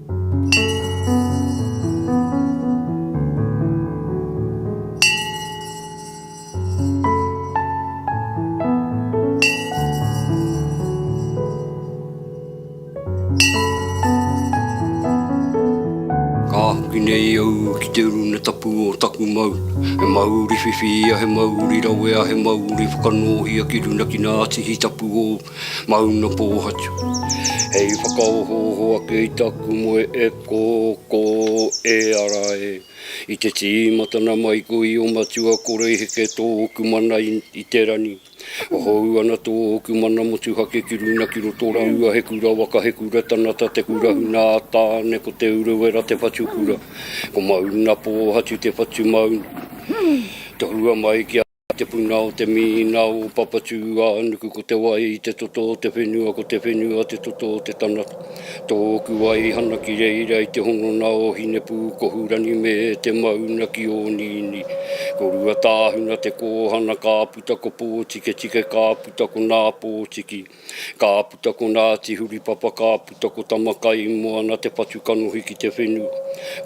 Ka hoki nei au ki te uruna tapu o taku mauri. He mauri whiwhi ia, he mauri rawe a he mauri whakanōhia ki runakina atihi tapu ōu. Mauna Pōhatu. Hei whakaohooho ake i taku moe e kō, kō, e ara e. I te tīmatana mai koe i o matua kore i heke tōku mana i, i te rani. Hou ana tōku mana motuhake ki runa ki roto rāua he kura waka he kura tanata te kura huna a Tāne ko Te Urewera te whatu kura. Ko Mauna Pōhatu te whatu mauna. Tohua mai ki a. I te puna o te minina o Papatūānuku ko te wai te toto o te whenua ko te whenua te toto o te tangata. Tōku waihana ki reira i te hononga o Hinepūkohu rani me te mauna ki Ōnīnī. Ko Ruatāhuna te kōhana ka puta ko Pōtiketike ka puta ko Nāpōtiki. Ka puta ko Naati Huripapa Ka puta ko Tamakai Moana Te patu kanohi ki te whenu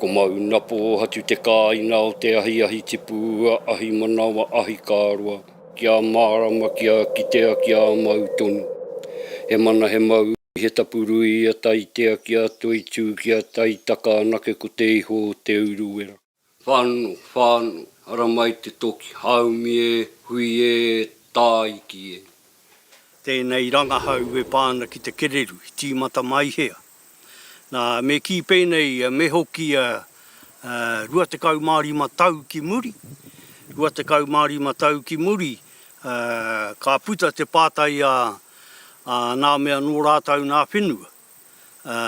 Ko Mauna Poohatu Te kaaina o te ahi Ahi tipu ua Ahi manawa Ahi kaaroa Ki a maarama ki a kitea ki a mau tonu He mana he mau ui he tapu rui a Taitea ki a Toitū ki a Taitaka anake ko te iho o te uruwera. Whano, whano, ara mai te toki, haumi e, hui e, tāiki e. Tēnei rangahau e pā ana ki te kererū, i tīmata mai hea. Nā, me kī pēnei, me hoki 25 tau ki muri, 25 tau ki muri, ka puta te pātai a nā mea nō rātau nā whenua. ā,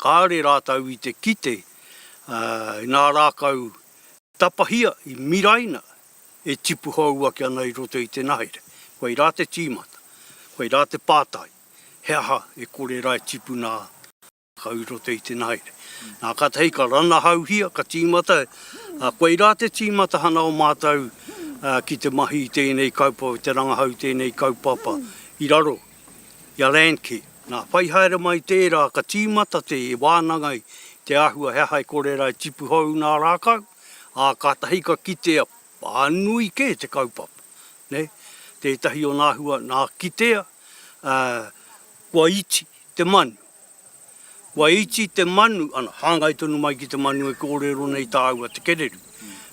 kāore rātou i te kite, ā, i ngā rākau tapahia i miraina e tipu hou ake ana i roto i te nahere. Koirā te tīmata, koirā te pātai, he aha e kore rae tipuna ā rākau i roto i te nahere. Nā, kātahi ka ranahauhia, ka tīmata, ā, koirā te tīmatahana o mātou ki te mahi i tēnei kaupapa, te rangahau i tēnei kaupapa i raro i a Landcare. Nā whai haere mai tērā ka tīmata te wānanga i te āhua he aha e kore rā e tipu hou nā rākau, ā, kātahi ka kitea whānui kē te kaupapa, nei. Tētahi o nā hua nā kitea, ā, kua iti te manu. Kua iti te manu, ana, hāngai tonu mai ki te manu e kōrero nei tāua te kererū.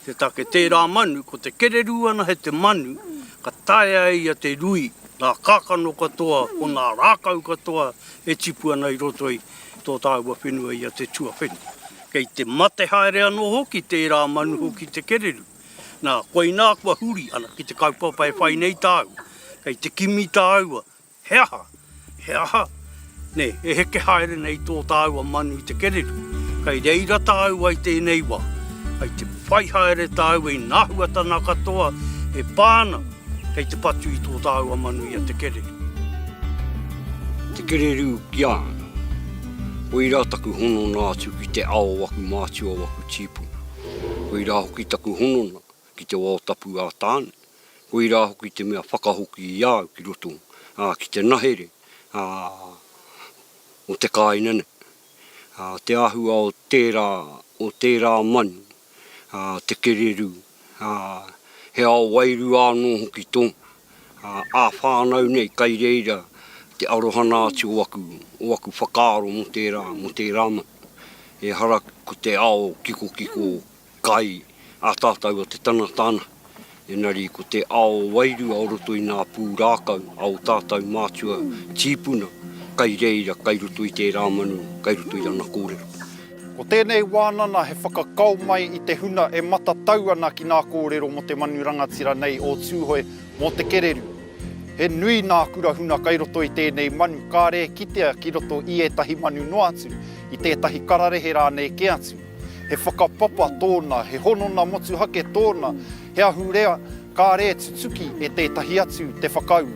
Te take tērā manu, ko te kererū ana he te manu ka taea e ia te rui ngā kākano katoa o ngā rākau katoa e tipu ana i roto i tō tāua whenua i a te tuawheni. Kei te mate haere anō hoki tērā manu hoki te kererū. Nā, koinā kua huri, ana, ki te kaupapa e whai nei tāua. Kei te kimi tāua, He aha? He aha? Nē, e heke haere nei tō tāua manu i te kereru. Kei reira tāua i tēnei wā. Kei te whai haere tāua i ngā huatanga katoa e pā ana kei te patu i tō tāua manu i a te kereru. Te kereru ki a ana. Koirā taku honona atu ki te ao o aku mātua o aku tīpuna. Koirā hoki taku honona ki te wao tapu a Tāne, koirā hoki te mea whakahoki i a au ki roto, ā, ki te nahere, ā, o te kāinga nei. Ā, te āhua o tērā, o tērā manu, ā, te kererū, ā, he ao wairua anō hoki tōna, ā, ā-whānau nei kai reira te arohana atu o aku, o aku whakaaro mō tērā, mō tērā manu. Ehara ko te ao kikokiko. kai a tātou a te tangata ana, engari ko te ao wairua o roto i ngā pūrākau a ō tātou mātua tīpuna kai reira kai roto i tērā manu, kai roto i ana kōrero. Ko tēnei wānana he whakakao mai i te huna e matatau ana ki ngā kōrero mō te manu rangatira nei o Tūhoe mō te kererū. He nui ngā kura huna kai roto i tēnei manu, kāre e kitea ki roto i ētahi manu noa atu, i tētahi kararehe rānei kē atu. He whakapapa tōna, he honona motuhake tōna, he ahurea kāre e tutuki e tētahi atu te whakaū.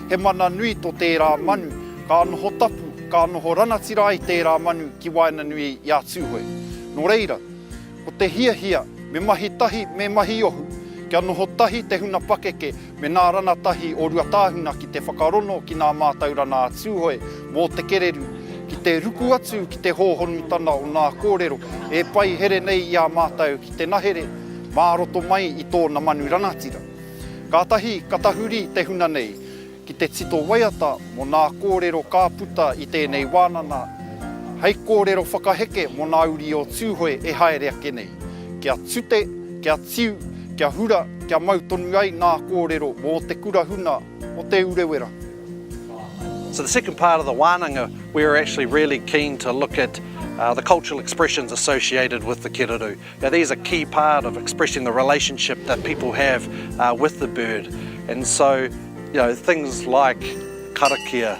He mana nui tō tērā manu, ka noho tapu, ka noho rangatira ai tērā manu ki waenganui i a Tūhoe. Nō reira, ko te hiahia me mahi tahi, me mahi ohu, kia noho tahi te huna pakeke Me nā rana tahi o Ruatāhuna ki te whakarono ki nā mātaurana a Tūhoe mō te kererū, ki te ruku atu ki te hōhonutanga o nā kōrero e pai here nei i a mātou ki te nahere mā roto mai i tōna manu rangatira. Kātahi ka tahuri te huna nei ki te tito waiata mō nā kōrero ka puta i tēnei wānana hei kōrero whakaheke mō nā uri o Tūhoe e haere ake nei. Kia tute, kia tiu, kia hura, kia mau tonu ai ngā kōrero mō te kura huna o Te Urewera. So the second part of the wānanga, we were actually really keen to look at the cultural expressions associated with the kererū. Now these are key part of expressing the relationship that people have with the bird. And so, you know, things like karakia,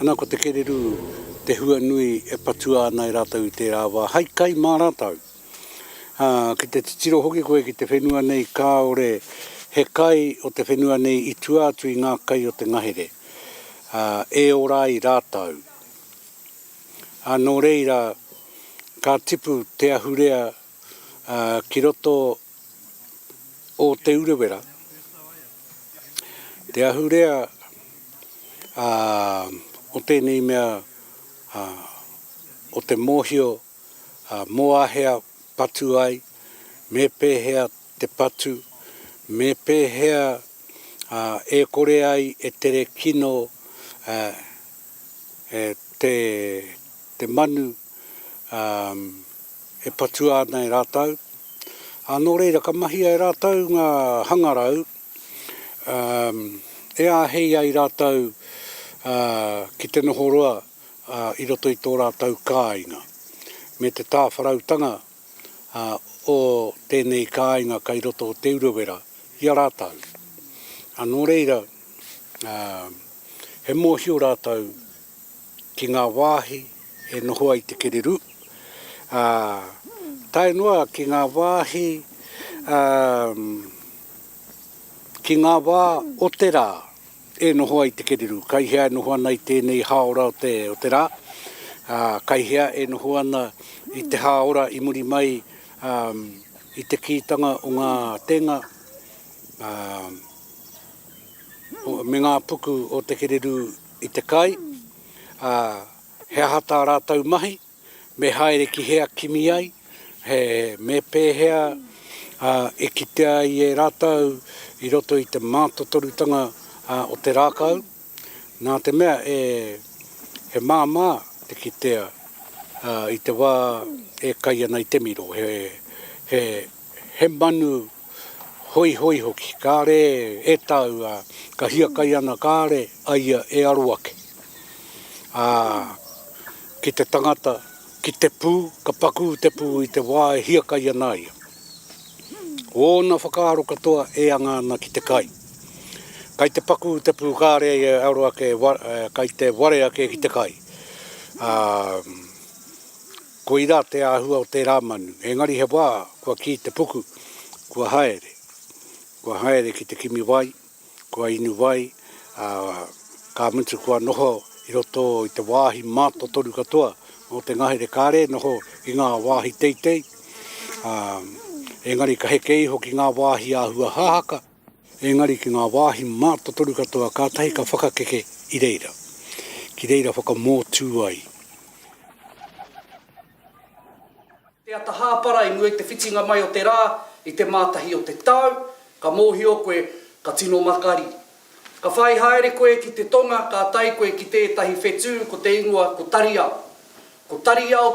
Ana ko te kererū te hua nui e patua ana e rātou i tērā wā, hai kai mā rātou. Ā, ki te titiro hoki koe ki te whenua nei kāore he kai o te whenua nei i tua atu i ngā kai o te ngahere, ā, e ora ai rātou. Ā, nō reira, ka tipu te ahurea, ā, ki roto o Te Urewera, te ahurea o tēnei mea o te mōhio mō āhea patu ai, me pēhea te patu, me pēhea e kore ai e tere kino te manu. e patua ana e rātou. Nō reira, ka mahia e rātou ngā hangarau e āhei ai rātou ki te noho roa i roto i tō rātou kāinga. Me te tāwharautanga o tēnei kāinga kei roto o Te Urewera i a rātou. Nō reira, he mōhio rātou. ki ngā wāhi e noho ai te kererū, ā, tae noa ki ngā wāhi, ā, ki ngā wā o te rā e noho ai te kererū, kai hea e noho ana i tēnei hāora o te, o te rā, ā, kai hea e noho ana i te hāora i muri mai, ā, i te kītanga o ngā tēnga, ā, o, me ngā puku o te kererū i te kai, ā, he aha tā rātou mahi, me haere ki hea kimi ai, he, me pēhea, ā, e kitea ai e rātou i roto i te mātotorutanga, ā, o te rākau, nā te mea e, he māmā te kitea, ā, i te wā e kai ana i te miro, he, he, he manu Hoihoi hoki, kāre e tau, ā, ka hiakai ana kāre a ia e aro ake. Ā, ki te tangata, ki te pū, ka pakū te pū i te wā e hiakai ana ia. Ōna whakaaro katoa e anga ana ki te kai. Kai te pakū te pū kāre ia e aro ake, kai te ware ake ki te kai. Ā, Koirā te āhua o tērā manu, engari he wā kua kī te puku, kua haere, kua haere ki te kimi wai, kua inu wai, ā, ka mutu kua noho i roto i te wāhi mātotoru katoa o te ngahere kāre e noho ki ngā wāhi teitei, ā, engari ka heke iho ki ngā wāhi āhua hahaka. Engari ki ngā wāhi mātotoru katoa kātahi ka whakakeke i reira, ki reira whakamōtū ai. Te ata hāpara i mua i te whitinga mai o te rā i te Mātahi o te tau, ka mōhio koe ka tino makari. Ka whai haere koe ki te tonga ka tae koe ki tētahi whetū ko te ingoa ko Tariao. Ko Tariao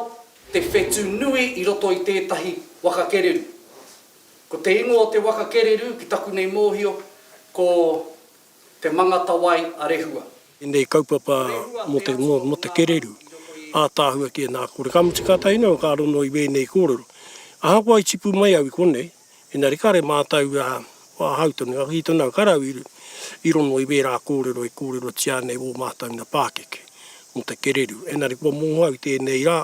te whetū nui i roto i tētahi waka kererū. Ko te ingoa o te waka kererū ki taku nei mōhio ko Te Mangatawai a Rehua. Ēnei kaupapa mō te kererū ātaahua kē nā kore. Ka mutu kātahi noa ka rongo i wēnei kōrero. Ahakoa i tipu mai au i konei, engari kare mātau wāhau tonu, ngā kī tonu au, kare au i rongo i wērā kōrero e kōrerotia ana e wō mātau nā pākeke mō te kererū. Engari kua mōhio au i tēnei rā,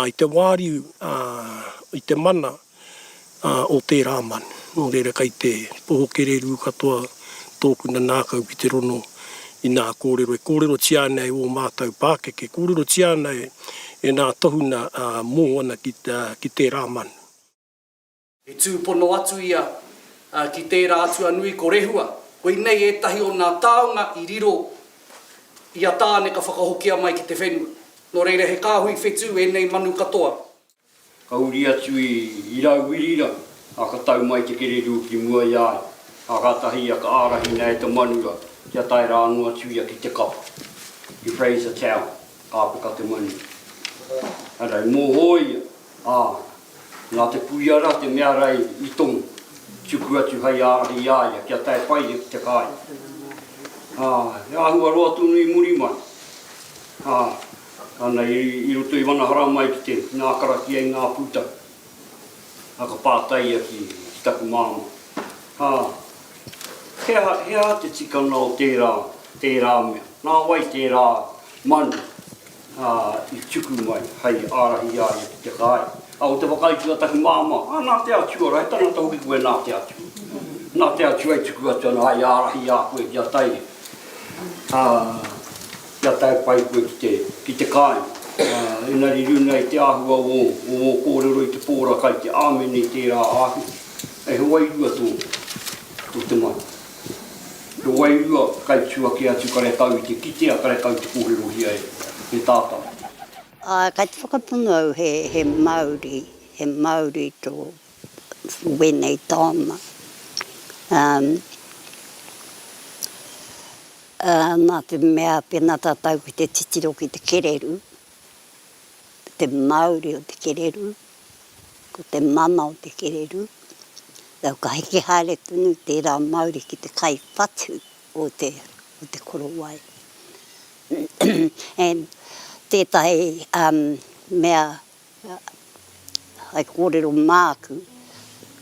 i te wāriu, i te mana, o tērā manu. Nō reira kei te poho kererū katoa tōku nanākau ki te rono i nā kōrero e kōrerotia ana e ō mātou pākeke, kōrerotia ana e nā tohunga mō ana ki tērā manu. I tūpono atu ia ki tērā atua nui ko Rehua, koinei ētahi o nā taonga i riro i a Tāne ka whakahokia mai ki te whenua. Nō reira he kāhui whetū ēnei manu katoa. Ka huri atu i Irauwirira, a ka tau mai te kererū ki mua i a ia, a kātahi ia ka ārahina e te manura kia tae rā anō atu ia ki te kapa, ki Fraser Town, ka apeka te manura. Arā, i mōhō ia, ā, nā te puia rā te mea rā i tomo, tuku atu hei ārahi i a ia kia tae pai ia ki te kāinga. Ā, he āhua roa tonu i muri mai, ā, Ana i roto i wana haramai ki te nā karakia i ngā pūtake. A ka pātai ia ki taku māmā, Ha, he aha, he aha te tikanga o tērā, tērā mea? Nā wai tērā manu i tuku mai hai ārahi i a ia ki te kāi? A ko te whakaitu a taku māmā, A, nā te Atua rā, he tangata hoki koe nā te Atua. Nā te Atua i tuku atu ana hai ārahi i a koe ki a Taire. Kia tae pai koe ki te, ki te kāinga. Engari runga i te āhua o ō, o ō kōrero i te pō ra kai te āmene i tērā āhua, kei he wairua tō, tō te mana. He wairua kai tū ake atu karekau i te kitea, karekau te kōrerohia e, e tātau. Āe, kai te whakapono au he, he Māori, he Māori tō, wēnei tāona. Nā te mea pēnā tātou ki te titiro ki te kererū, te māuri o te kererū, ko te mana o te kererū, ka heke haere tonu tērā māuri ki te kai whatu o te korowai. And tētahi mea Hai kōrero māku,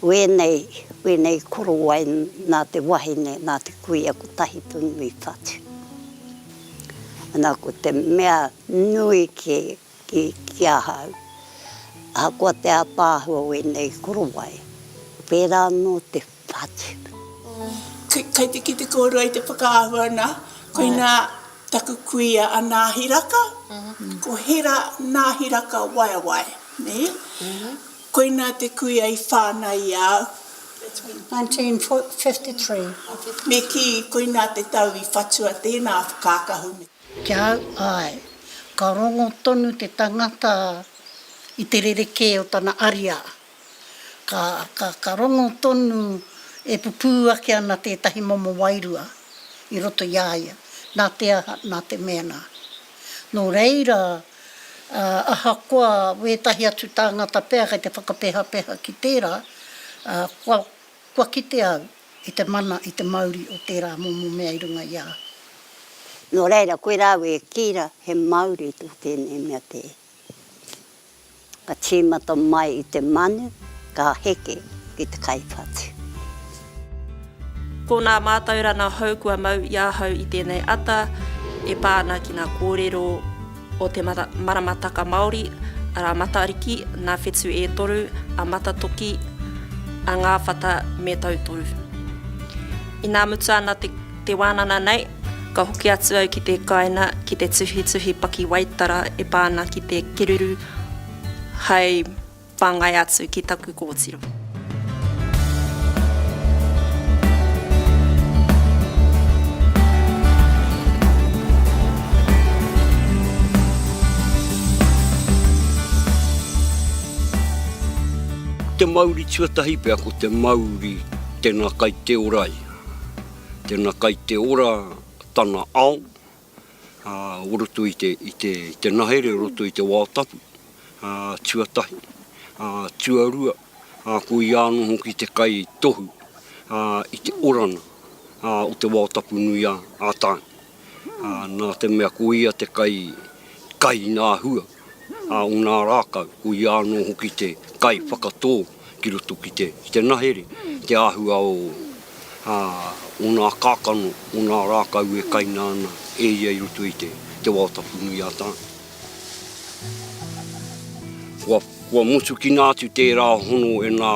wēnei, wēnei korowai nā te wahine, nā te kuia kotahi tonu i whatu. Nā, ko te mea nui kē ki, ki ahau, ahakoa te ātaahua wēnei korowai, pērā anō te Patrick. Kei te kite kōrua i te whakaahua nā, koinā taku kuia a Nāhi Raka, ko Hera Nāhi Raka Waewae, nē? Koinā te kuia i whānau i a au. 1953. Me kī, koinā te tau i whatua tēnā whakakahu me. Ki a au, āe. Ka rongo tonu te tangata i te rerekē o tana ariā. Ka rongo tonu, e pupū ake ana tētahi momo wairua i roto i a ia, nā te aha, nā te mēnā. Nō reira, ahakoa wētahi atu tāngata pea kei te whakapehapeha ki tērā, kua kite au i te mana, i te mauri o tērā momo mea i runga i a au. Nō reira, koirā au e kī rā, he māori tō tēnei mea te. Ka tīmata mai i te manu, ka heke ki te kai whatu. Ko nā mātauranga hou kua mau i ahau i tēnei ata e pā ana ki ngā kōrero o te maramataka Māori, arā Matariki, nā Whetu e Toru, a Matatoki, a Ngāwhata me Tautoru. Inā mutu ana te. Te wānana nei, ka hoki atu au ki te kāina ki te tuhituhi pakiwaitara e pā ana ki te kererū hai whāngai atu ki taku kōtiro. Te mauri tuatahi pea ko te mauri tena kai te orai. Tena kai te ora tana ao o roto i te nahere, o roto i te wao tapu, tuatahi, tuarua, ko ia ano hoki te kai tohu i te orana o te wao tapu nui a Tainga. Na te mea ko ia te kai kai na hua. a ōna rākau, ko ia anō hoki te kai whakatō ki roto ki te, ki te nahere, te āhua o, ā, ōna kākano, ōna rākau e kaina ana e ia i roto i te, te wao tapu nui a Tāne. Kua, kua motukina atu tērā hono e nā,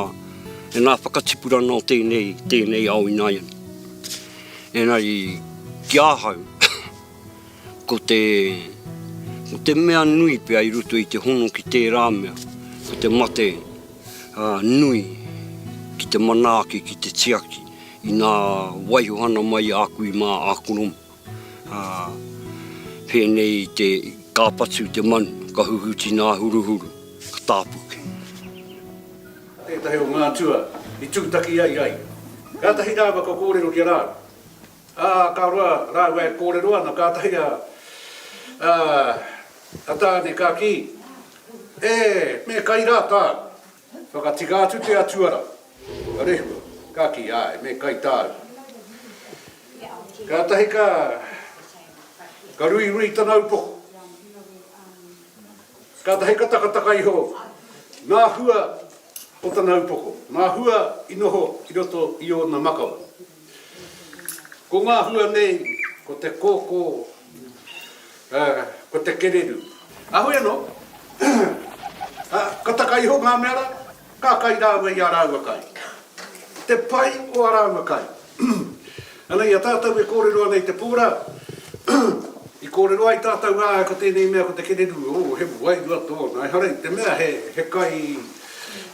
e nā whakatipurana o tēnei, tēnei ao ināiane. Engari, ki ahau, Ko te, ko te mea nui pea i roto i te hono ki tērā mea, ko te mate ā, nui ki te manaaki, ki te tiaki i ngā waihohana mai a kui mā Akoroma. Ā, pēnei i te, ka patu te manu, ka huhuti ngā huruhuru, ka tāpuke. Tētahi o ngā atua i tūtaki ai ai. Kātahi rāua kua kōrero ki a rāua. Ā, ka roa rāua e kōrero ana, kātahi a, ā, a Tāne ka kī, E, me kai rā tāu. Whakatika atu te Atua rā, ka rehua, ka kī, Āe, me kai tāu. Kātahi ka, ka ruirui tana upoko. Kātahi ka takataka iho ngā hua o tana upoko, ngā hua i noho i roto i ōna makawe. Ko ngā hua nei, ko te kōkō, ā, ko te kereru. Kāhore anō, ā, ka taka iho ngā mea rā, ka kai rāua i ā rāua kai. Te pai o ā rāua kai. Ana, i a tātou e kōrero ana i te pō rā, i kōrero ai tātou, ā, ko tēnei mea ko te kereru, ō, he wairua tōna, ehara i te mea he kai,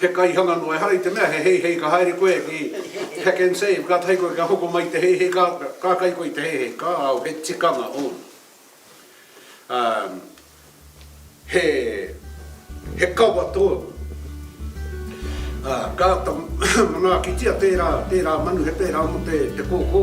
He kaihanga noa, ehara i te mea he heihei ka haere koe ki Pack and Save, kātahi koe kia hoko mai te heihei, ka, ka kai koe i te heihei, ka ao, he tikanga ōna. Um, he, he kawa tōna. Uh, ka āta manaakitia tērā, tērā manu he pērā mō te, te kōkō.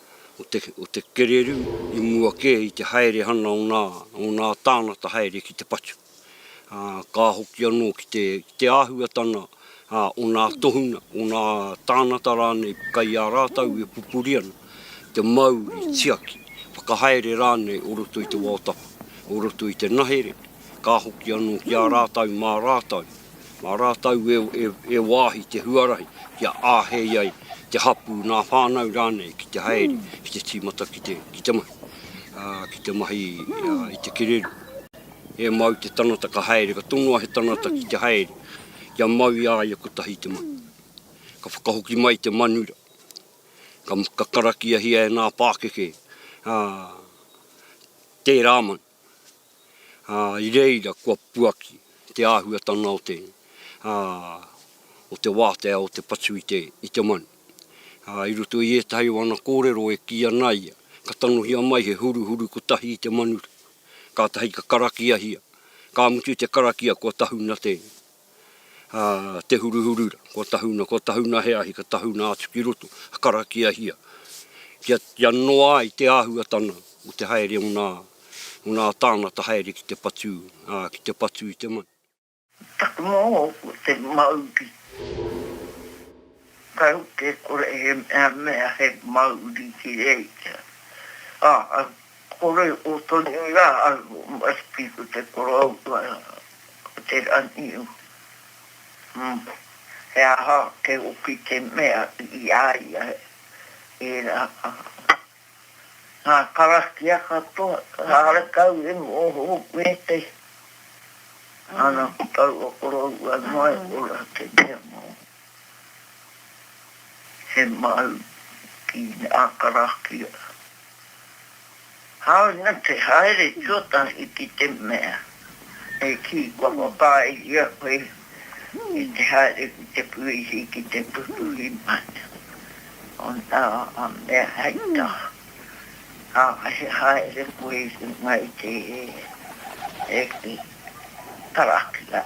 o te kererū i mua kē i te haere ana o nā, o nā tāngata haere ki te patu, ā, ka hoki anō ki te, ki te āhuatanga, ā, o nā tohunga, o nā tāngata rānei kai a rātou e pupuri ana, te mauri, tiaki, whakahaere rānei o roto i te wao tapu, o roto i te nahere, Ka hoki anō ki a rātou mā rātou, mā rātou e wāhi te huarahi kia āhei ai te hapū, nā whānau rānei ki te haere ki te tīmata ki te mahi, ki te mahi i te kererū. He mau te tangata ka haere, ka tonoa he tangata ki te haere kia mau i a ia kotahi te mahi. Ka whakahoki mai te manura, ka karakiahia e ngā pākeke tērā manu. ā, i reira kua puaki te āhuatanga o te, ā, o te wātea o te patu i te, i te manu. Ā, i roto i ētahi o ana kōrero e kī ana ia, ka tangohia mai he huruhuru kotahi i te manu, kātahi ka karakiahia, ka mutu te karakia kua tahuna te, a Te Huruhurura, kua tahuna, kua tahuna he ahi, ka tahuna atu ki roto, ka karakiahia, kia, kia noa ai te āhuatanga o te haere o ngā, o ngā tāngata haere ki te patu, ā, ki te patu i te manu. Taku moa, ko te mauri. Kau te kore he mea mea he mauri ki reira. A, kore o tonu ra au o Murphy ko te koroua o te raniu. Hum, he aha te oki te mea i a ia e ra a. Nga karakia katoa, kare kau e moho hoku e te. Ana ko taua koroua noa e ora te mea mo. He mau ki a karakia. Hāunga te haere tuatahi ki te mea e kī kua whakaaehia koe ki te haere ki te puihi, ki te pupuhi mai o ngā mea hei taha, ā, he haere koe i runga i te karakia.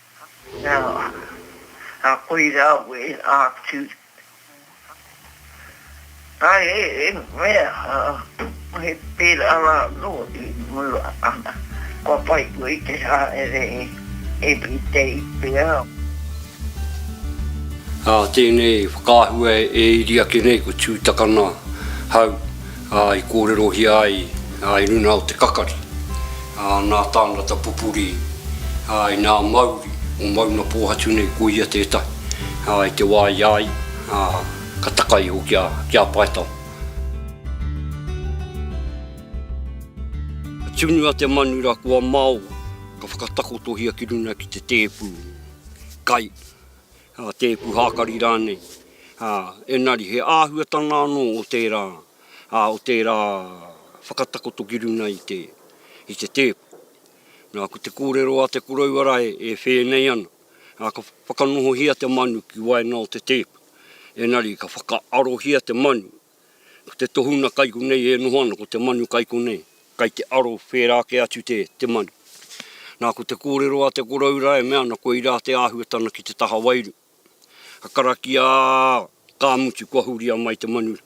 Ā, koirā we ātu. Ā, he mea, he pērā rā anō i mua ana, kua whai koe i te haere everyday pea. Ā, tēnei whakaahua e iri ake nei ko Tūtakana hau. ā, i kōrerohia ai i runga o te kakari, ā, nā tāngata pupuri, ā, i ngā mauri o Maungapōhatu nei ko ia tētahi, ā, i te wā i a ia, ā, ka taka iho ki a, ki a Paetawa. Ka tunu a Te Manura ko a Maoa, ka whakatakotohia ki runga ki te tēpū, kai. a tēpu hākari rānei, ā, engari he āhuatanga anō o tērā, ā, o tērā whakatakoto ki runga i te, i te tēpu. Nā, ko te kōrero a te korouara e, e whēnei ana, ā, ka whakanohohia te manu ki waenga o te tēpu, engari ka whakaarohia te manu Ko te tohunga kai konei e noho ana, ko te manu kai konei. Kai te aro whērā ake atu te, te manu. Nā, ko te kōrero a te koroura e mea ana koirā te āhuatana ki te taha wairu. Ka karakia, ka mutu kua huria mai te manu,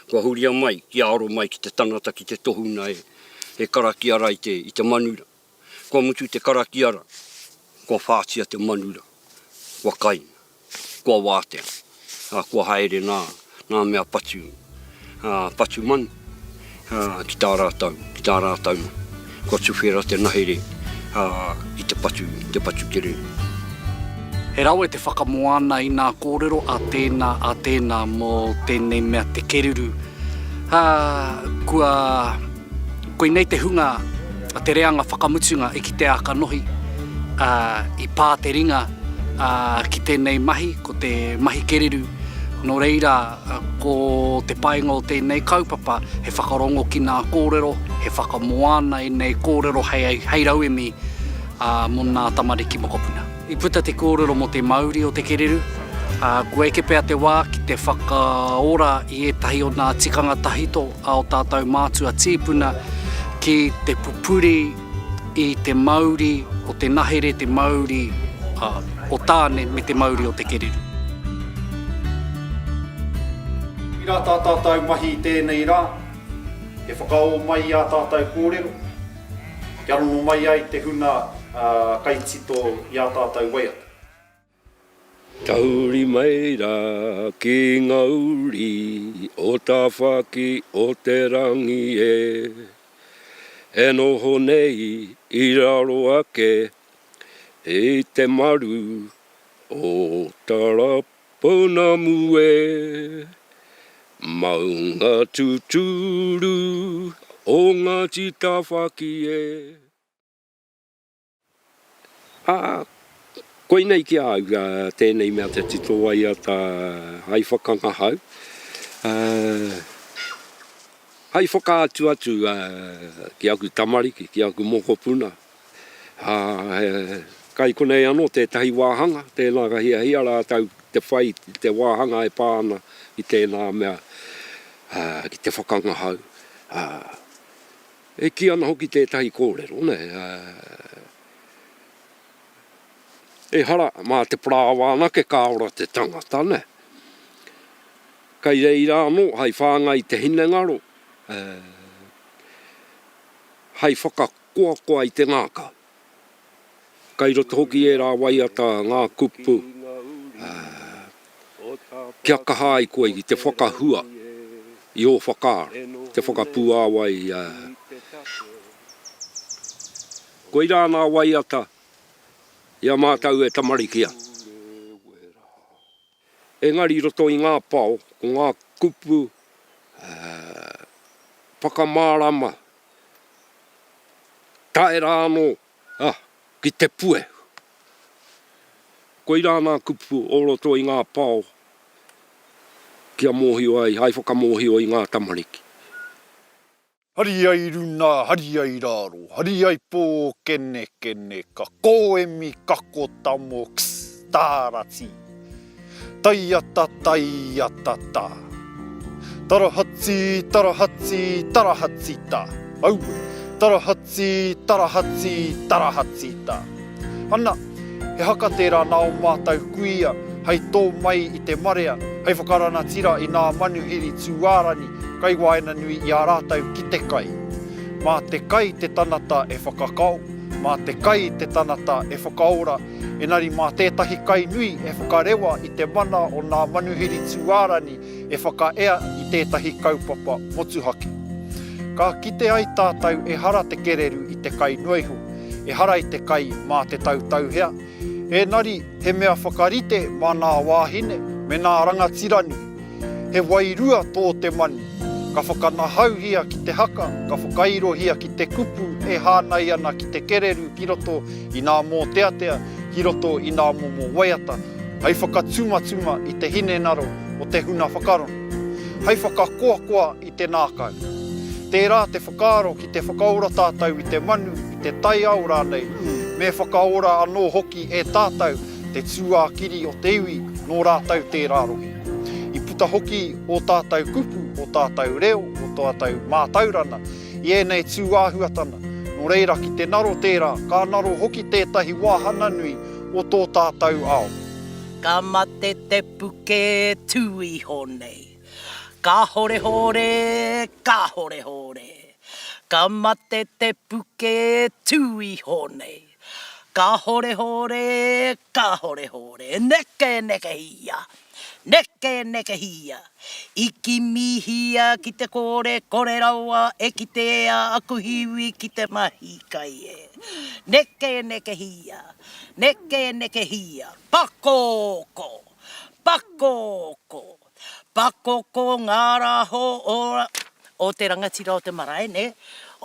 kua huria mai kia aro mai ki te tangata, ki te tohunga e, e karakia ra i te, i te manu ra. Kua mutu te karakia ra, kua whātia te manu ra, kua kaina, kua wātea, a kua haere nā, nā mea patu, a, patu manu, a, ki tā rātau, ki tā rātau manu. Kua tuwhera te nahere, a, ki te patu, te patu kererū. He rawe te whakamoana i nā kōrero a tēnā, a tēnā mō tēnei mea te kererū. A, kua. Koinei te hunga a te reanga whakamutunga e kitea ka nohi, ā, i pā te ringa ki tēnei mahi, ko te mahi kereru. Nō reira, ko te painga o tēnei kaupapa, he whakarongo ki ngā kōrero, he whakamoana ēnei kōrero hei rauemi mō ngā tamariki mokopuna. I puta te kōrero mō te mauri o te kererū, ā, kua eke pea te wā ki te whakaora i ētahi o ngā tikanga tahito a ō tātou mātua tīpuna ki te pupuri i te mauri o te nahere, te mauri o Tāne me te mauri o te kererū. I rata ā tātou mahi i tēnei rā, e whakaō mai i ā tātou kōrero, Kia rongo mai ai te huna kai tito i a tatou waiata. Tahuri mai ra ki nga uri o Tawhaki o te Rangi e. E noho nei i raro ake i te maru o Tarapū. Pounamu e, maunga tuturu o Ngāti Tāwhaki e. Ā, koinei ki a au tēnei mea te tito waiata hai whakangahau, ā, hai whakaatu atu ki aku tamariki, ki aku mokopuna. Ā, he kai konei anō tētahi wāhanga, tēnā ka hiahia rātou ki te whai i te wāhanga e pā ana ki tēnā mea, ā, ki te whakangahau, ā, e kī ana hoki tētahi kōrero, nē, ā, ehara mā te parāoa anake ka ora te tangata, nē. Kai reira anō, hai whāngai i te hinengaro, ā, hai whaka. koakoa i te ngākau. Kai roto hoki ērā waiata ngā kupu kia kaha ai koe ki te whakahua i ō whakaaro, te whakapuāwai. Koirā ngā waiata i a mātou e tamariki ana. Engari i roto i ngā pao, ko ngā kupu whakamārama tae rā anō ki te puehu. Koirā ngā kupu o roto i ngā pao kia mōhio ai, hai whakamōhio i ngā tamariki. Hari ai runa, hari ai raro, hari ai po kene kene ka koemi kako tamo kss tara ti. Taiata taiata ta. Tarahati tarahati tarahati ta. Aue. Tarahati tarahati tarahati ta. Ana. He haka tērā nā ō mātou kuia hei tō mai i te marea, hei whakaranatira i nā manuhiri tūārani kai waenganui i a rātou ki te kai. Mā te kai te tanata e whakakao, mā te kai te tanata e whakaora, enari mā tētahi kai nui e whakarewa i te mana o nā manuhiri tūārani e whakaea i tētahi kaupapa motuhake. Ka kite ai tātou ehara te kererū i te kai noa iho, ehara i te kai mā te tautauhea, ēnari he mea whakarite mā nā wāhine me nā rangatira nui. He wairua tō te manu, ka whakanahauhia ki te haka, ka whakairohia ki te kupu e hānai ana ki te kererū ki roto i nā mōteatea, ki roto i nā momo waiata hei whakatumatuma i te hinengaro o te huna whakarongo, hei whakakoakoa i te nākau. Tērā te whakaaro ki te whakaora tātou i te manu, i te taiao rānei, me whakaora anō hoki e tātou te tūākiri o te iwi nō rātou tērā rohe. I puta hoki ō tātou kupu, ō tātou reo, ō tātou mātaurana i ēnei tū āhuatana, nō reira ki te naro tērā, ka naro hoki tētahi wāhanga nui o tō tātau ao. Ka mate te puke tū iho nei. Kāhorehōre, kāhorehōre. Ka mate te puke tū iho nei. Kahorehore, kahorehore, nekenekehia, nekenekehia, I kimihia ki te kore, kore rawa e kitea aku hiwi ki te mahi kai e. Nekenekehia, nekenekehia, pakoko, pakoko, Pakoko ngā raho o o te rangatira o te marae nē,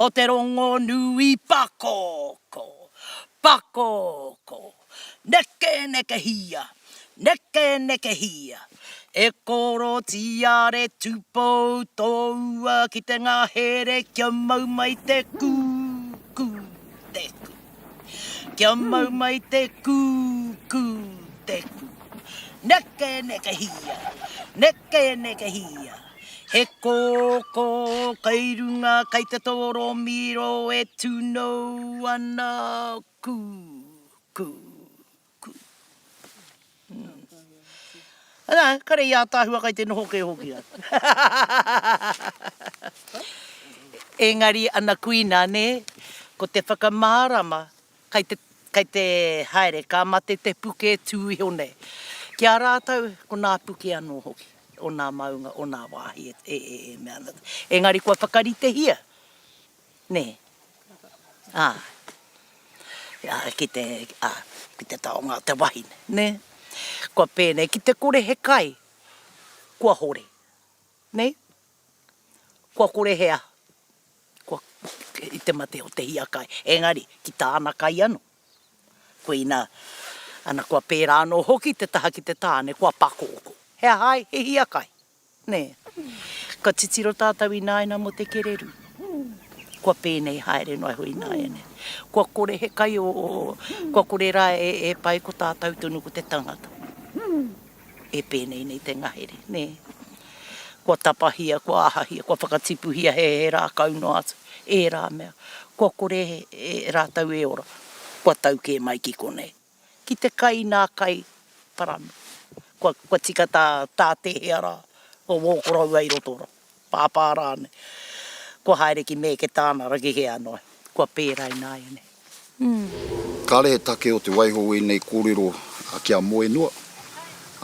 o te rongonui pakoko, pakoko, neke nekehia, neke nekehia, e koro tiare tupou toua ki te ngahere kia mau mai te kū, kū, te kū. Kia mau mai te kū, kū te kū. Neke, neke hia, neke, neke hia. He kōkō kei runga, kei te tōrōmiro e tūnou ana kū, kū, Ana, kare i ataahua kai te noho kē hoki a. Engari ana kuina nē, ko te whakamārama kai te kai te haere ka mate te puke tū iho nei. Ki a rātou ko nā puke anō hoki o nā maunga o nā wāhi e e e mea ana. Engari kua whakaritehia Nē. Ā, ā, ki te, ā, ki te taonga o te wahine, nē. Kua pēnei, ki te kore he kai, kua hore. Nē? Kua kore he aha, kua, i te mate o te hiakai. Engari, ki tāna kai anō. Koina, ana, kua pērā anō hoki te taha ki te tāne, kua pakōkō. He aha ai? He hiakai. Nē. Ka titiro tātou ināiana mō te kererū. Kua pēnei haere noa iho ināiane. Kua kore he kai o, o, kua kore rā e, e pai ko tātou tonu ko te tangata. E pēnei nei te ngahere, nē. Kua tapahia, kua ahahia, kua whakatipuhia he, he rākau noa atu. Ērā mea. Kua kore e, rātou e ora. Kua tau kē mai ki konei. ki te kai nā kai parani. Kua tika tā tēhea rā, kua wōkoroua i roto rā, pāpā rānei. Kua haere ki mēke tāna ragi hē anō, kua pērā i nāianei. Kāre he take o te waiho wēnei kōrero ki a Moenua.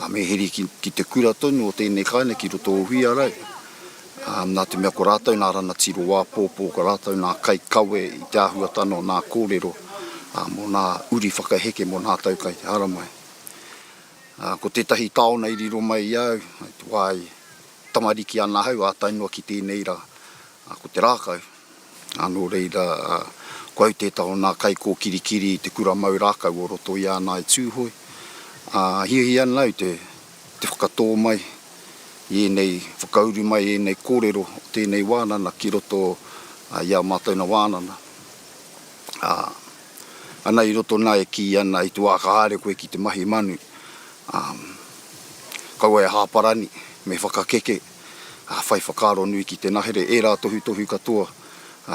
Ā, me heri ki, ki te kura tonu o tēnei kāinga ki roto o Huiarau. Ā, nā te mea ko rātou nā rangatiro āpōpō, ko rātou nā kaikawe i te āhuatanga o nā kōrero, ā, mō nā uri whakaheke mō nā tau kai te haramai. Ā, ko tētahi taona i riro mai i a au, i te wā i tamariki ana ahau, ātai noa ki tēnei rā. A ko te rākau, a nō reira, ko au tētahi o nā kaikōkirikiri i te kura mau rākau o roto i ana i Tūhoe, a hiahia ana au te whakatō mai i ēnei, whakauru mai i ēnei kōrero o tēnei wānana ki roto i ā mātou na wānana. A, ana i roto nā e kī ana i te wā ka haere koe ki te mahi manu, a, kaua e hāparani, me whakakeke, whai whakaaro nui ki te nahere ērā tohutohu katoa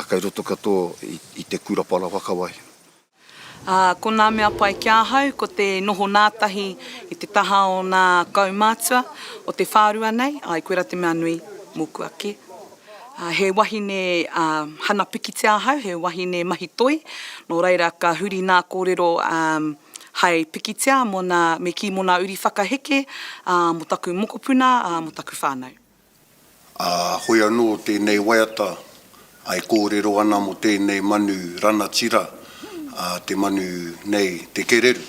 kei roto katoa i te Kura Parawhakawai. Ā, ko ngā mea pai ki ahau, ko te noho ngātahi i te taha o ngā kaumātua o te whārua nei, āe, koirā te mea nui mōku ake. Ā, he wahine hana pikitia ahau, he wahine mahi toi, nō reira ka huri ngā kōrero hai pikitia mo na me ki mo na uri whakaheke, a, mo taku mokopuna, a, mo taku whanau. A, hoi ano tenei waiata e korero ana mo tenei manu ranatira, a, te manu nei te kereru.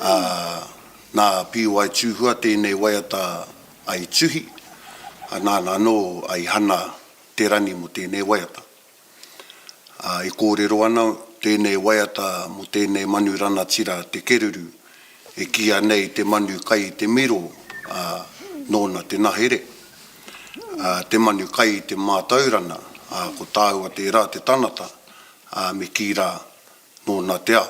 A, na Piuai Tuhua tenei waiata i tuhi, a, nana ano i hana te rani mo tenei waiata. ā, e kōrero ana tēnei waiata mō tēnei manu ranatira te keruru, e kīia nei te manu kai i te miro, ā, nōna te nahere. Ā, te manu kai i te mātaurana, ā, ko tāua tērā te tanata, ā, me kī rā, nōna te ao.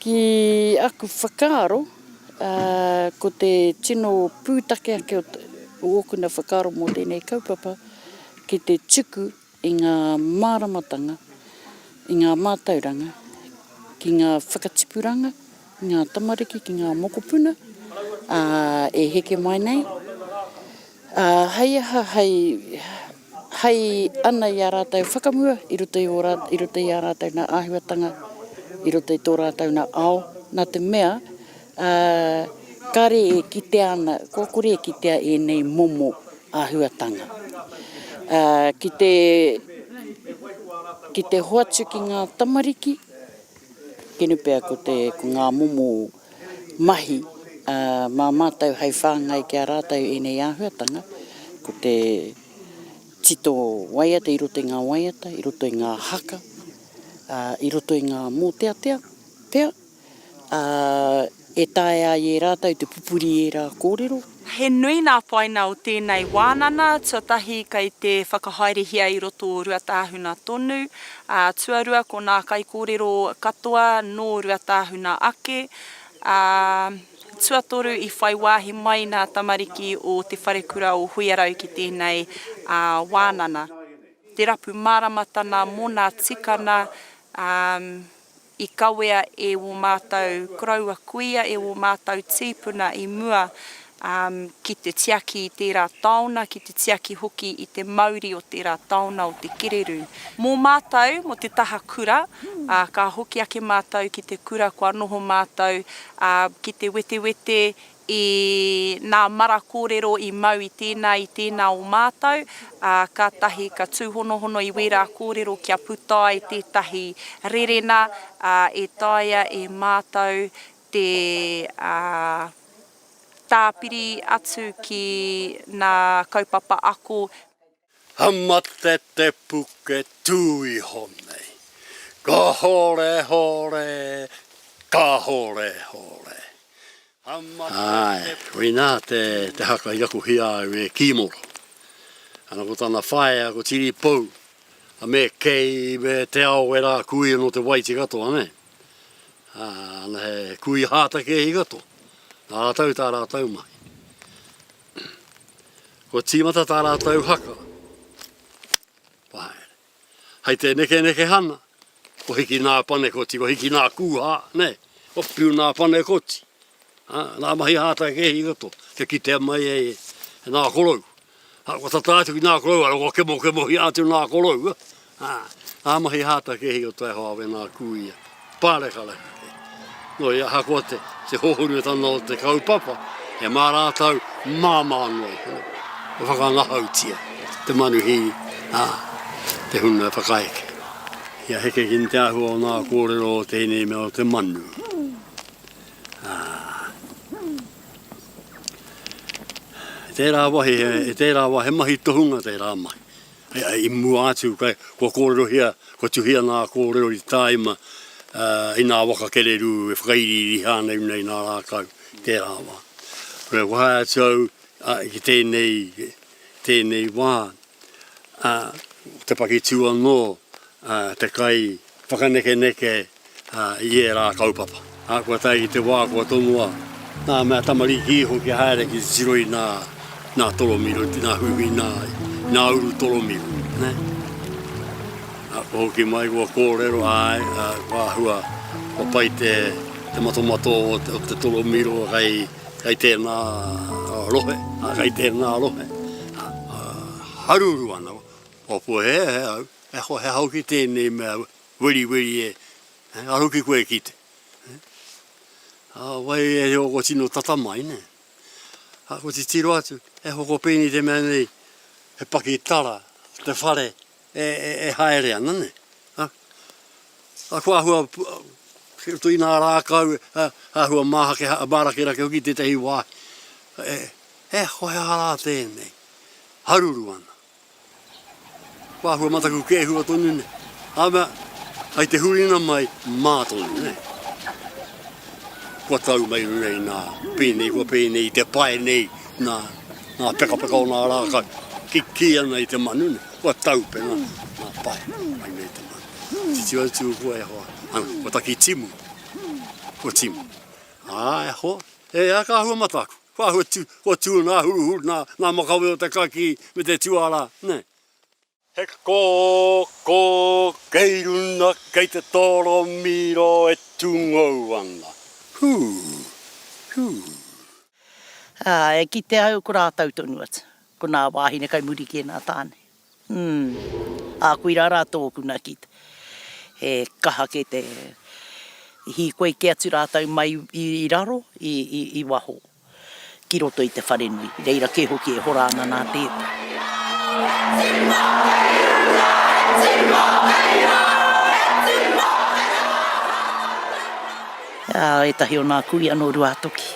Ki aku whakaaro, ko te tino pūtake ake o ōkuna whakaaro mō tēnei kaupapa, ki te tuku i ngā māramatanga, i ngā mātauranga, ki ngā whakatipuranga, ki ngā tamariki, ki ngā mokopuna, e heke mai nei, hei aha, hei. Hei ana i a rātou whakamua i roto i ō rātou, i roto i ā rātou nā āhuatanga, i roto i tō rātou nā ao, nā te mea, ā, kāre e kitea ana, kua kore e kitea ēnei momo āhuatanga. Ā, ki te, ki te hoatu ki ngā tamariki, kenu pea ko te, ko ngā momo. mahi mā mātou hei whāngai ki a rātou ēnei āhuatanga, ko te tito waiata i roto i ngā waiata, i roto i ngā haka, i roto i ngā mōteatea pea, e taea ai e rātou te pupuri i ērā kōrero. He nui ngā whaina o tēnei wānana, tuatahi kei te whakahaerehia i roto o Ruatāhuna tonu, ā, tuarua ko ngā kaikōrero katoa nō Ruatāhuna ake, ā, tuatoru i whai wāhi mai ngā tamariki o Te Wharekura o Huiarau ki tēnei wānana. Te rapu māramatanga mō ngā tikanga, ā. I kawea e wō mātou koroua kuia, e wō mātou tīpuna i mua ki te tiaki i tērā taona, ki te tiaki hoki i te mauri o tērā taona o te kererū. Mō mātou, mō te taha kura, ā, ka hoki ake mātou ki te kura kua noho mātou, ā, ki te wetewete I nā mara kōrero i mau i tēnā, i tēnā o mātou, ā, kātahi ka tūhonohono i wērā kōrero kia puta ai tētahi rerena, ā, e taea e mātou te, ā, tāpiri atu ki nā kaupapa ako. Ka mate te puke tū iho nei. Kahore hore, kahore hore. Ka mate te puke. Āe, koinā te haka i rakohia au e Kīmoro. Ana ko tana whaea ko Tiripou, a me kei, me te ao e rā kui anō te waiti katoa nei. Ana he kui hātakēhi katoa. Nā rātou tā rātou mahi. Kua tīmata tā rātou haka. Pahaere. Hai te nekeneke hana, ko hiki nā Panekoti, ko hiki nā Kūhā, ne? Ko piu nā Panekoti. Ha, nā mahi hātai ke hi roto, kia kitea mai e, e nā korou. Ha, kua tata atu ki nā korou, ara kua kemo kemohia atu nā korou. Ā, ngā mahi hātakēhi o Taihoa wēnā kū ia, pārekareka kē. Nō i ahakoa te, te hōhunutanga o te kaupapa, e mā rātou māmā noa iho. E whakangahautia te manuhī, ā, te huna e whakaeke. Kia heke ki te āhua o ngā kōrero o tēnei mea o te manu. Ā. Tērā wāhi, he, tērā wāhi, he mahi tohunga tērā mahi. I mua atu, kua kōrerohia, kua tuhia ngā kōrero i tāima i ngā waka kererū e whakairiiri hānau nei nā rākau i tērā wā. Kua haea atu au ki tēnei, tēnei wā, te pakitū anō, te kai whakanekeneke i ērā kaupapa. Kua tae ki te wā kua tonoa ngā mea tamariki iho kia haere ki te tiro i nā toromiro, i nā huihui, i nā uru toromiro. Kua hoki mai, kua kōrero, āe, kua āhua, kua pai te matomato o te toromiro kei tēnā rohe, kei tēnā rohe. Haruru ana, kua puea, he aha au, he aha au ki tēnei mea, Weriweri e, a hoki koe e kite. A wai e reo ko tino tata mai ne. A ko titiro atu, e hoko pēnei te mea nei, he pakitara, te whare e, e, e haere ana ne. A, a ko ahua, ki roto i nā rākau, a, ahua māhake, a mārakerake hoki tētahi wāhi. E, e, ko he aha rā tēnei? Haruru ana. Kua hua mataku kē hua tonu nei. Āmea, ai te huringa mai, mā tonu nei. Kua tau mai runei nā, pēnei kua pēnei i te pae nei, nā, nā pekapeka o nā rākau. Ki, kī ana i te manu nei, kua tau pena nā pae, mai nei te manu. Titiro atu kua e hoa, ana, kua taki timu, kua timu. Ā, e hoa, e a ka hua mataku. Ko ahua tu, ko tu na huruhuru na, na makawe o te kaki me te tuara, ne. He ko, ko, kei runa, kei te toro miro e tungou ana. Hu, hu. Ā, e kite au ko rātou tonu atu, ko nā wāhine kai muri ki ēnā tāne. Umm. Ā, koirā rā tōku na ki te, he kaha kē te hīkoi kē atu rātou mai i raro, i waho, ki roto i te wharenui. Reira kē hoki e hora ana nā tētahi. Ā, ētahi o nā kuia nō Ruātoki,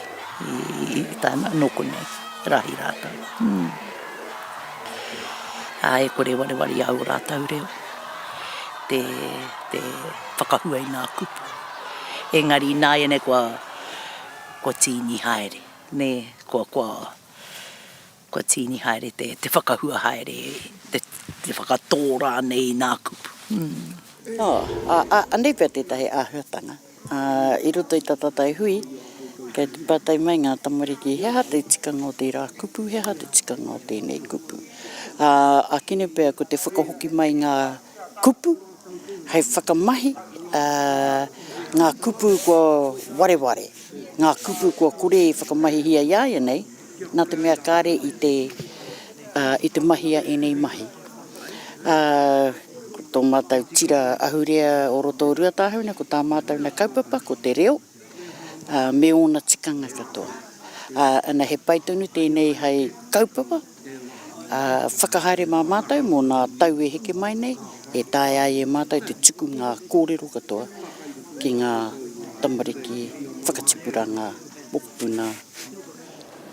i tae noa, nō konei, rahi rātou. Umm. ā, e kore e wareware i a au ō rātou reo, te, te whakahua i ngā kupu. Engari ināianei kua, kua tīni haere, nē, kua, kua, kua tīni haere te, te whakahua haere, te, te whakatō rānei i ngā kupu. Ā, ā, ā, anei pea tētahi āhuatanga. Ā, i roto i tā tātou hui, kei te pātai mai ngā tamariki, he aha te tikanga o tērā kupu, he aha te tikanga o tēnei kupu. Ā, ākene pea ko te whakahoki mai i ngā kupu hei whakamahi, ā, ngā kupu kua wareware, ngā kupu kua kore e whakamahihia i āianei, nā te mea kāre i te, i te mahia ēnei mahi. Ā, ko tō mātou tira ahurea o roto o Ruatāhuna, ko tā mātou na kaupapa, ko te reo, ā, me ōna tikanga katoa. Ā, ana he pai tonu tēnei hai kaupapa, ā, whakahaere mā mātou mō nā tau e heke mai nei, e taea ai e mātou te tuku ngā kōrero katoa ki ngā tamariki whakatipuranga. Puna.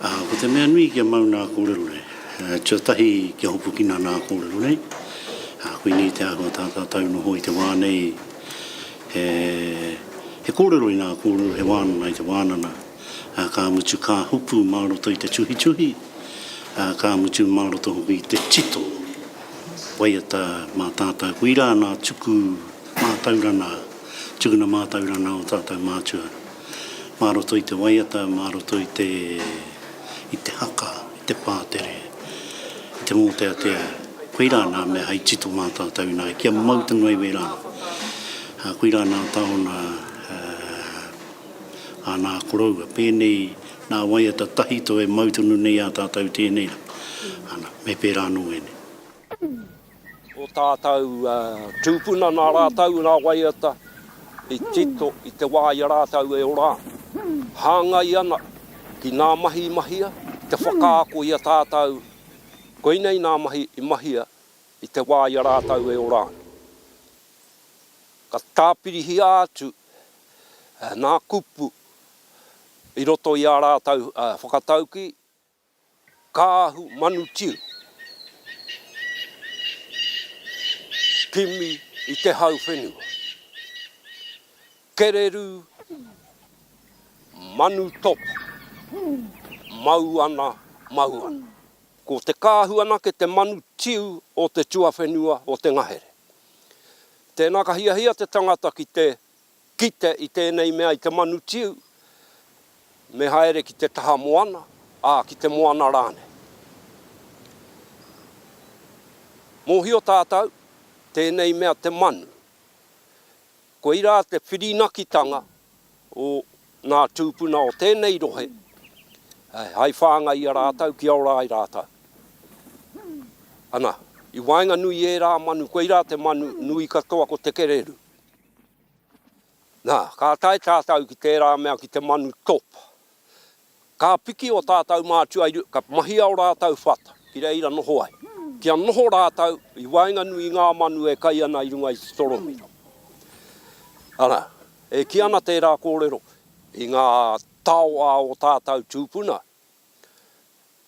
Ko te mea nui kia mau nā kōrero nei, tuatahi kia hopukina nā kōrero nei, koinei te āhua tā tātou noho i te wā nei, he kōrero i nā kōrero, he wānanga i te wānanga, ka mutu ka hopu mā roto i te tuhituhi, ka mutu mā roto hoki i te tito, waiata mā tātou, koirā nā tuku mātauranga, tukuna mātauranga o tātou mātua. mā roto i te waiata, mā roto i te, i te haka, i te pātere, i te mōteatea, koirā nā mea hei tito mātātau ināia, kia mau te ngaiwē rānei. Koirā nā tāona āna koroua, pēnei nā waiata tahito e mau tonu nei ā tātau tēnei rā, ana, me pērā anō ēnei. o tātou tūpuna nā rātou ngā waiata i tito i te wā i a rātou e ora ana, hāngai ana ki ngā mahi i mahia, te whakaako i a tātou koinei ngā mahi i mahia i te wā i a rātou e ora ana. Ka tāpirihia atu ngā kupu i roto i ā rātou whakataukī. Kaahu manu tiu Kimi i te hau whenua Kereru manu topu Mau ana, mau ana. Ko te kaahu anake te manu tiu o te tuawhenua o te ngahere. Tēnā ka hiahia te tangata ki te Kite i tēnei mea i te manu tiu, me haere ki te taha moana, ā, ki te moana rānei. Mōhio tātou, tēnei mea te manu. Koirā te whirinakitanga o ngā tūpuna o tēnei rohe hai whāngai i a rātou kia ora ai rātou. Ana, i waenganui i ērā manu, koirā te manu nui katoa ko te kererū. Nā, ka tae tātou ki tērā mea ki te manu top. Ka piki ō tātou mātua i runga, ka mahia ō rātou whata ki reira noho ai, kia noho rātou i waenganui i ngā manu e kai ana i runga i te toromira. Arā, e kī ana tērā kōrero i ngā tao a ō tātou tūpuna,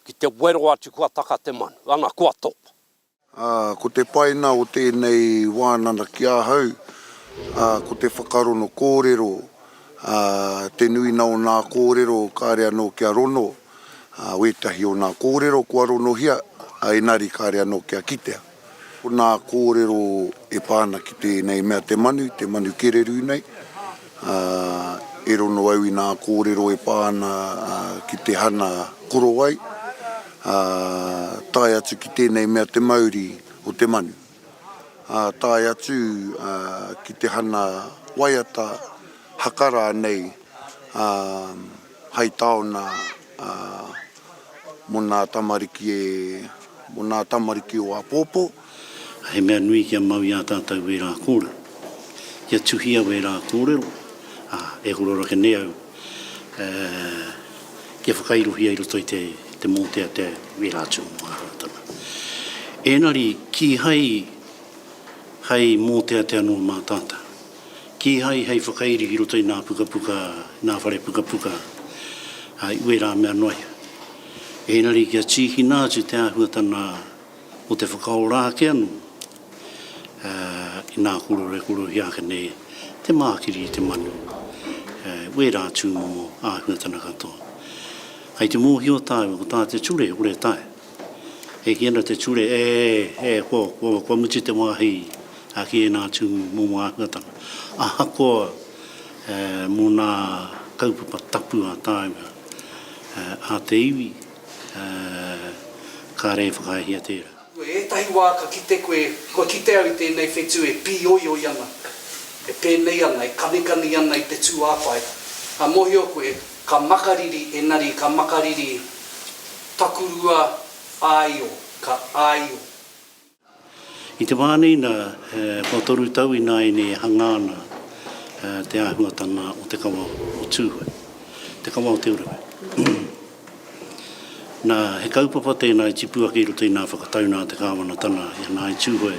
ki te wero atu kua taka te manu, ana, kua top. Ā, ko te painga o tēnei wānanga ki ahau, ā, ko te whakarono kōrero, ā, te nuinga o ngā kōrero kāre anō kia rono, ā, wētahi o ngā kōrero kua ronohia, ā, engari kāre anō kia kitea. Ko ngā kōrero e pā ana ki tēnei mea te manu, te manu kererū nei. Ā, ero nō au i nā kōrero e pā ana ki te hana korowai, ā, tae atu ki tēnei mea te mauri o te manu, ā, tae atu ki te hana waiata haka rānei hai taona mō nā tamariki e, mō nā tamariki o āpōpō. He mea nui kia mau i a tātou wērā kōrero, kia tuhia wērā kōrero, ā, e horo rake nei au kia whakairohia i roto i te mōteatea wērā tūmomo āhuatanga. Ēngari, kīhai hei mōteatea noa mā tātou, kīhai hei whakairi ki roto i ngā pukapuka, ngā whare pukapuka i wērā mea noa iho. Ēngari kia tīkina atu te āhuatanga, Ko te whakaora ake anō, inā kōrero e kōrerohia ake nei te mākiri i te manu, wērā tūmomo āhuatana katoa. Kai te mōhio tāua ko tā te ture kore tae, e kī ana te ture, e, e, ko, ko, kua mutu te wāhi a ki ēnā tūmomo āhuatana. Ahakoa mō nā kaupapa tapu a tāua, a te iwi, Ā, kāre e whakaahia tērā. Koe, ētahi wā ka kite koe, kua kite au i tēnei whetū e pīoioi ana, e pēnei ana, e kanikani ana i te tūāpae. Ka mōhio koe, ka makariri, engari ka makariri takurua āio, ka āio. I te wā nei nā, kua toru tau ināianei e hangā ana te āhuatanga o te kawa o Tūhoe, te kawa o Te Urewera. Nā, he kaupapa tēnā i tipu ake i roto i nā whakatau nā te Kāwanatanga i a Ngāi Tūhoe,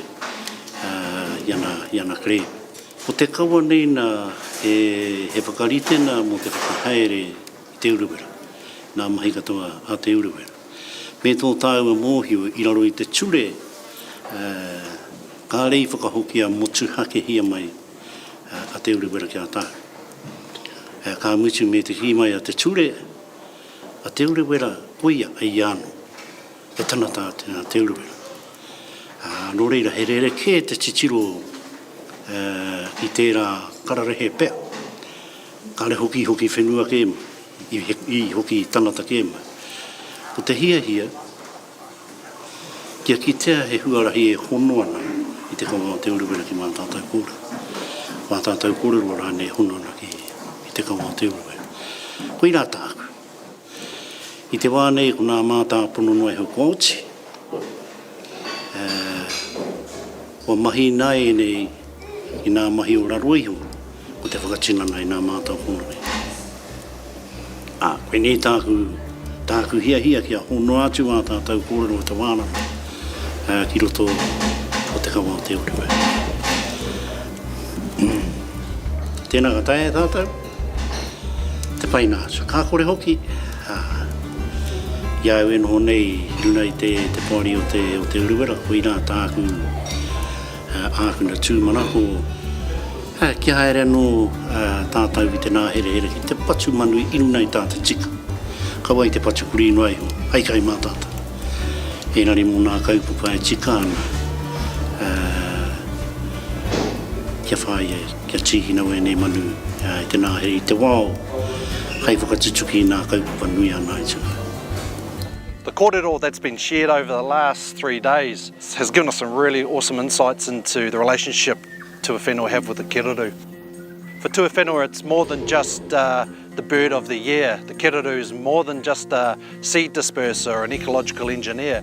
i a nā, i a nā Claire. Ko te kawa nei nā, he, he whakaritenga mō te whakahaere, Te Urewera, ngā mahi katoa a Te Urewera, me tō tāua mōhio i raro i te ture kāre i whakahokia motuhakehia mai a Te Urewera ki a tāu. Ka mutu me te kī mai a te ture, a Te Urewera koia a ia anō, he tana tā Te Urewera. Nō reira, he rerekē te titiro i tērā kararehe pea. Kare hoki i hoki whenua ke ma, i hoki i tangata ke ma. Ko te hiahia, kia kitea he huarahi e hono ana i te kaunga o Te Urewera ki Mātātau kōrero. Mātātau kōrero rānei e hono ana ki te kaunga o Te Urewera. Koirā tāku. I te wā nei ko nā mātāpono noa iho kua oti, ā, kua mahi ina ēnei i nā mahi o raro iho ko te whakatinana i nā mātāpono nei. Ā, koinei tāku, tāku hiahia kia honoa atu ā tātou kōrero o te wā raro, ā, ki roto o te kawa o te Ōriwe. Tēnā ka taea e tātou. Te pai nā, so ka kore hoki, ā, i a au e noho nei i runga i te poari o te, o te Urewera, koirā tāku ākuna tūmanako, ā, kia haere anō tātau i te nāherehere ki te patu manu i runga i tā te tika, ka wai te patu kurī noa iho, hai kai mā tātau. Engari mō nā kaupapa e tika ana, ā, kia whāia e. Kia tīkina wēnei manu i te nāhere i te wao, hai whakatutuki i nā kaupapa nui a Ngāi Tahu. The kōrero that's been shared over the last three days has given us some really awesome insights into the relationship tuawhenua have with the kererū. For tuawhenua it's more than just the bird of the year, the kererū is more than just a seed disperser or an ecological engineer.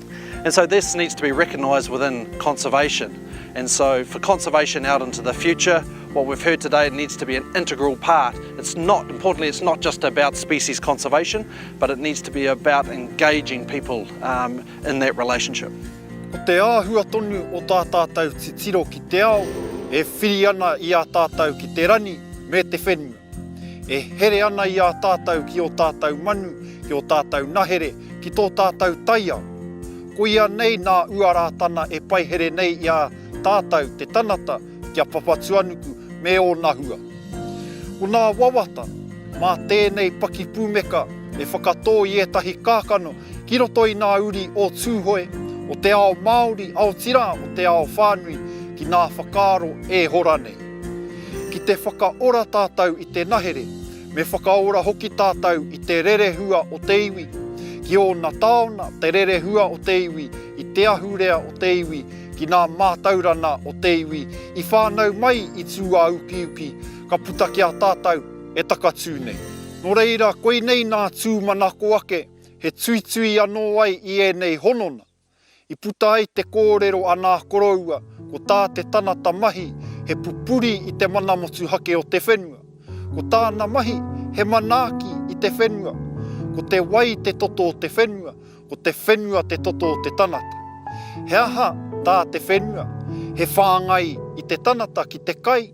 And so this needs to be recognised within conservation. And so for conservation out into the future, what we've heard today needs to be an integral part. It's not, importantly, it's not just about species conservation, but it needs to be about engaging people um, in that relationship. Ko te āhua tonu o tā tātou titiro ki te ao e whiri ana i a tātou ki te rani me te whenua. E here ana i a tātou ki ō tātou manu, ki ō tātou nahere, ki tō tātou taiao. Koia nei nā Uarātana e paihere nei i a tātou te tanata ki a Papatuanuku me ōna hua. Ko nā wawata, mā tēnei pakipūmeka e whakatō i ētahi kākano ki roto i nā uri o Tūhoe, o te ao Māori, aotirā o te ao whānui ki nā whakaaro e hora nei. Ki te whakaora tātou i te nahere, me whakaora hoki tātou i te rerehua o te iwi, ki ōna taona, te rerehua o te iwi, i te ahurea o te iwi, ki nā mātaurana o te iwi, i whānau mai i tūāukiuki, ka puta ki a tātou e takatū nei. Nō reira, koinei nā tūmanako ake, he tuitui anō ai i ēnei honona. I puta ai te kōrero a nā koroua ko tā te tanata mahi he pupuri i te mana motuhake o te whenua. Ko tāna mahi he manaaki i te whenua. Ko te wai te toto o te whenua, ko te whenua te toto o te tanata. He aha tā te whenua? He whāngai i te tanata ki te kai,